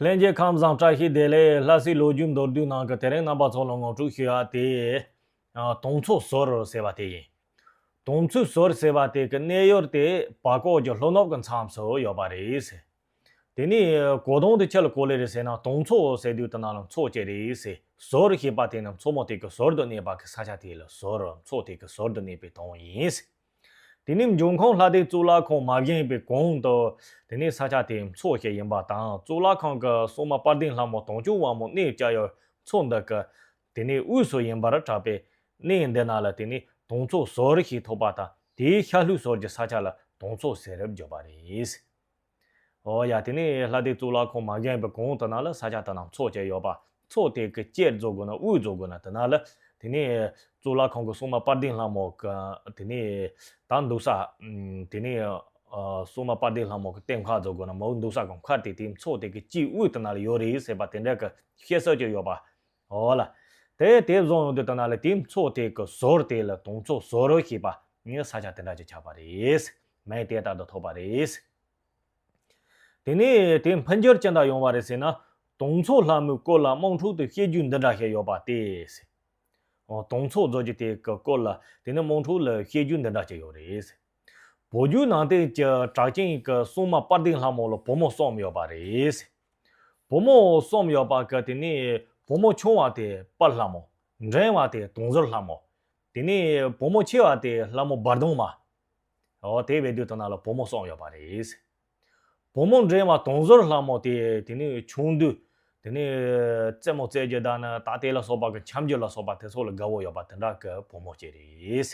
ལྷན་རྒྱས་ཁམས་བཟང་བཀྲ་ཤིས་བདེ་ལེགས་ལྷ་སའི་ལོ་རྒྱུས་མདོར་བསྡུས་ནང་གི་དེ་རིང་རྣམ་པ་ཚོ་ལ་ངོ་སྤྲོད་ཞུ་ཡ་དེ། དུང་མཚོ་ཟོར་ཟེར་བ་དེ་ཡིན། དུང་མཚོའི་ཟོར་ཟེར་བ་དེ་གི་གནས་ཡུལ་དེ་བར་སྐོར་གྱི་ལྷོ་ནུབ་ཀྱི་མཚམས་སུ་ཡོད་པ་རེད། དེ་ནས་གོ་དོང་དུ་ཁྱི་ལ་གོ་ལེ་རེ་ཟེར་ན་དུང་མཚོ་ཟེར་དུས་དེ་ན་ལ་མཚོ་སྐྱེ་རེད། ཟོར་ཞེས་པ་དེ་ནི་མཚོ་མོ་དེ་གི་ཟོར་དུ་གནས་པ་གི་ས་ཆ་དེ་ལ་ཟོར་མཚོ་དེ་གི་ཟོར་དུ་གནས་པའི་དོན་ཡིན། དེ་ནི་འབྱུང་ཁུངས་ལྷ་སྡེ་གཙུག་ལག་ཁང་མ་བཞེངས་པའི་གོང་དུ། དེ་ནི་ས་ཆ་དེའི་མཚོ་ཞིག་ཡིན་པ་དང་གཙུག་ལག་ཁང་གི་སྲུང་མ་དཔལ་ལྡན་ལྷ་མོ་དུང་ཕྱུར་དབང་མོ་གནས་བཅའ་ཡུལ་མཚོ་འདི་གི་དེ་ནས་དབུས་སུ་ཡིན་པར་གྲགས་པས། གནས་འདི་ན་ལ་དེ་ནས་དུང་མཚོ་ཟོར་ཞེས་ཐོགས་པ་དང་དེའི་ཤར་ལྷོའི་སོར་གྱི་ས་ཆ་ལ་དུང་མཚོ་ཟེར་བར་གྱུར་པ་རེད། ཨོ་ཡ་དེ་ནི་ལྷ་སྡེ་གཙུག་ལག་ཁང་མ་གཞན་པའི་གོང་དུ་ན་ལ་ས་ཆ་དུ་ན་མཚོ་བཅས་ཡོད་པ་མཚོ་དེ་གི་བཅས་རྫོགས་དགོས་ན་དབུས་རྫོགས་དགོས་ན་དུ་ན་ལ་དེ་ནི་གཙུག་ལག་ཁང་གི་སྲུང་མ་དཔལ་ལྡན་ལྷ་མོ་གི་དེ་ནི་དང་འདུག་ས་དེ་ནི་སྲུང་མ་དཔལ་ལྡན་ལྷ་མོ་གི་སྟེང་མཁར་རྫོགས་དགོས་ན་མོའུ་འདུག་ས་གོང་མཁར་དེ་དེའི་མཚོ་དེ་གི་དཀྱིལ་དབུས་དུ་ན་ལ་ཡོད་རེད་ཟེར་པ་དེ་འདྲ་གི་བཤད་སྲོལ་ཅིག་ཡོད་པ་ཨོ་ལ། དེ་དེ་བཟུང་ཡོང་དུས་ལྟ་ན་ལས་དེའི་ཚོགས་དེ་གི་ཟོར་དེ་ལ་དུང་ཚོགས་ཟོར་ཞེས་པ་ངའི་ས་ཆ་དེ་འདྲ་ཅིག་ཆགས་པ་རེད། མེ་དེ་ལྟར་དུ་ཐོགས་པ་རེད། དེ་ནས་དེ་འཕོ་འགྱུར་ཅི་འདྲ་ཡོང་བ་རེད་ཟེར་ན། དུང་ཚོགས་ལྷ་མོའི་སྐོར་ལ་དམངས་ཁྲོད་དུ་བཤད་རྒྱུ་འདི་འདྲ་ཞིག་ཡོད་པ་སྟེ། དུང་ཚོགས་རྫོགས་རྒྱུ་དེ་གི་སྐོར་ལ་དེ་ནས་དམངས་ཁྲོད་ལ་བཤད་རྒྱུ་འདི་འདྲ་ཅིག་ཡོད་རེད། བོད་བརྒྱུད་ནང་བསྟན་གྱི་གྲགས་ཅན་གྱི་སྲུང་མ་དཔལ་ལྡན་ལྷ་མོ་ལ་བུ་མོ་གསུམ་ཡོད་པ་རེད། བུ་མོ་གསུམ་ཡོད་པ་གི་དེ་ནས་བུ་མོ་ཆུང་བ་དེ་དཔལ་ལྷ་མོ། འབྲིང་བ་དེ་དུང་ཟུར་ལྷ་མོ། དེ་ནས་བུ་མོ་ཆེ་བ་དེ་ལྷ་མོ་འབར་གདུང་མ། འོ་དེ་བས་དུས་དང་ན་ལ་བུ་མོ་གསུམ་ཡོད་པ་རེད། བུ་མོ་འབྲིང་བ་དུང་ཟུར་ལྷ་མོ་དེ་དེ་ནས་ཆུང་དུས་དེ་ནས་རྩེད་མོ་རྩེད་རྒྱུ་དང་ན་ད་ལྟའི་ལ་སོགས་པ་གི་འཁྱམ་རྒྱུ་ལ་སོགས་པ་དེ་ཚོ་ལ་དགའ་བོ་ཡོད་པ་དེ་འདྲ་གི་བུ་མོ་སྐྱེས་རེད།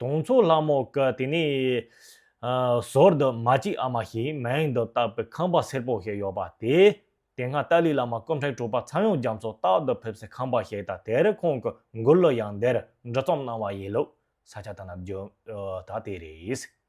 དུང་མཚོ་ལྷ་མོ་ཀ་དེ་ནི། ཟོར་དུ་མ་གཅིག་ཨ་མ་ཞིག་མེང་དུ་བཏགས་པའི་ཁང་པ་སེར་པོ་ཞིག་ཡོད་པ་དེ། དེ་སྔ་ཏཱ་ལའི་བླ་མ་སྐུ་འཕྲེང་དྲུག་པ་ཚངས་དབྱངས་རྒྱ་མཚོ་རྟག་ཏུ་ཕེབས་སའི་ཁང་པ་ཞིག་དང་དེར་ཁོང་གི་མགུར་གླུ་ཡང་འདིར་འབྲི་རྩོམ་གནང་བ་ཡིན་ལུགས་ས་ཆ་དང་ནམ་རྒྱུན་དག་དེ་རེད།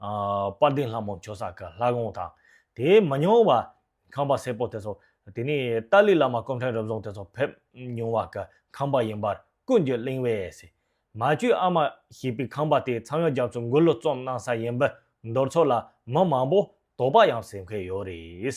དཔལ་ལྡན་ལྷ་མོ་མཆོག་ས་ག་ལྷ་དགོངས་དང། དེས་མ་མྱོང་བ། ཁང་པ་སེར་པོ་དེ་ཚོ། དེ་ནས་ཏཱ་ལའི་བླ་མ་སྐུ་ཕྲེང་རབ་བཟུང་དེ་ཚོ་ཕེབས་མྱོང་བ་གི་ཁང་པ་ཡིན་པར་ཀུན་གྱིས་གླེང་བས། མ་བཅོས་ཨ་མ་ཞེས་པའི་ཁང་པ་དེ་ཚངས་དབྱངས་རྒྱ་མཚོས་འགུལ་བློ་རྩོམ་གནང་ས་ཡིན་པས་མདོར་ཚོ་ལ་མི་མང་པོ་དོགས་པ་ཡང་སེམས་མཁན་ཡོད་རེད།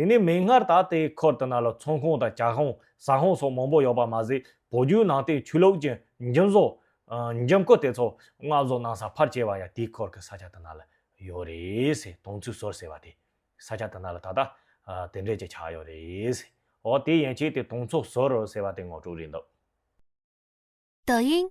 དེ་ནས་མིག་སྔར་ད་ལྟའི་ཁུལ་དེ་ན་ལ་ཚོང་ཁང་དང་གྱ་ཁང་ཟ་ཁང་སོགས་མང་པོ་ཡོད་པ་མ་ཟད་བོད་བརྒྱུད་ནང་བསྟན་ཆོས་ལུགས་ཀྱི་འཇིམ་བཟོ། འཇིམ་སྐུ་དེ་ཚོ་མངགས་བཟོ་གནང་ས་ཕར་བྱས་པ་ཡང་དེའི་ཁུལ་གྱི་ས་ཆ་དེ་ན་ལ་ཡོད་རེད་ཟེར་དོང་ཚུལ་ཟུར་ཟེར་བ་དེ་ས་ཆ་དེ་ན་ལ་ད་ལྟ་དེ་འདྲས་ཀྱི་ཆགས་ཡོད་རེད་ཟེར་འོ་དེ་ཡན་ཆད་དེ་དོང་ཚུགས་ཟུར་ཟེར་བ་དེ་ངོ་སྤྲོད་རེད་འདུག། Doying།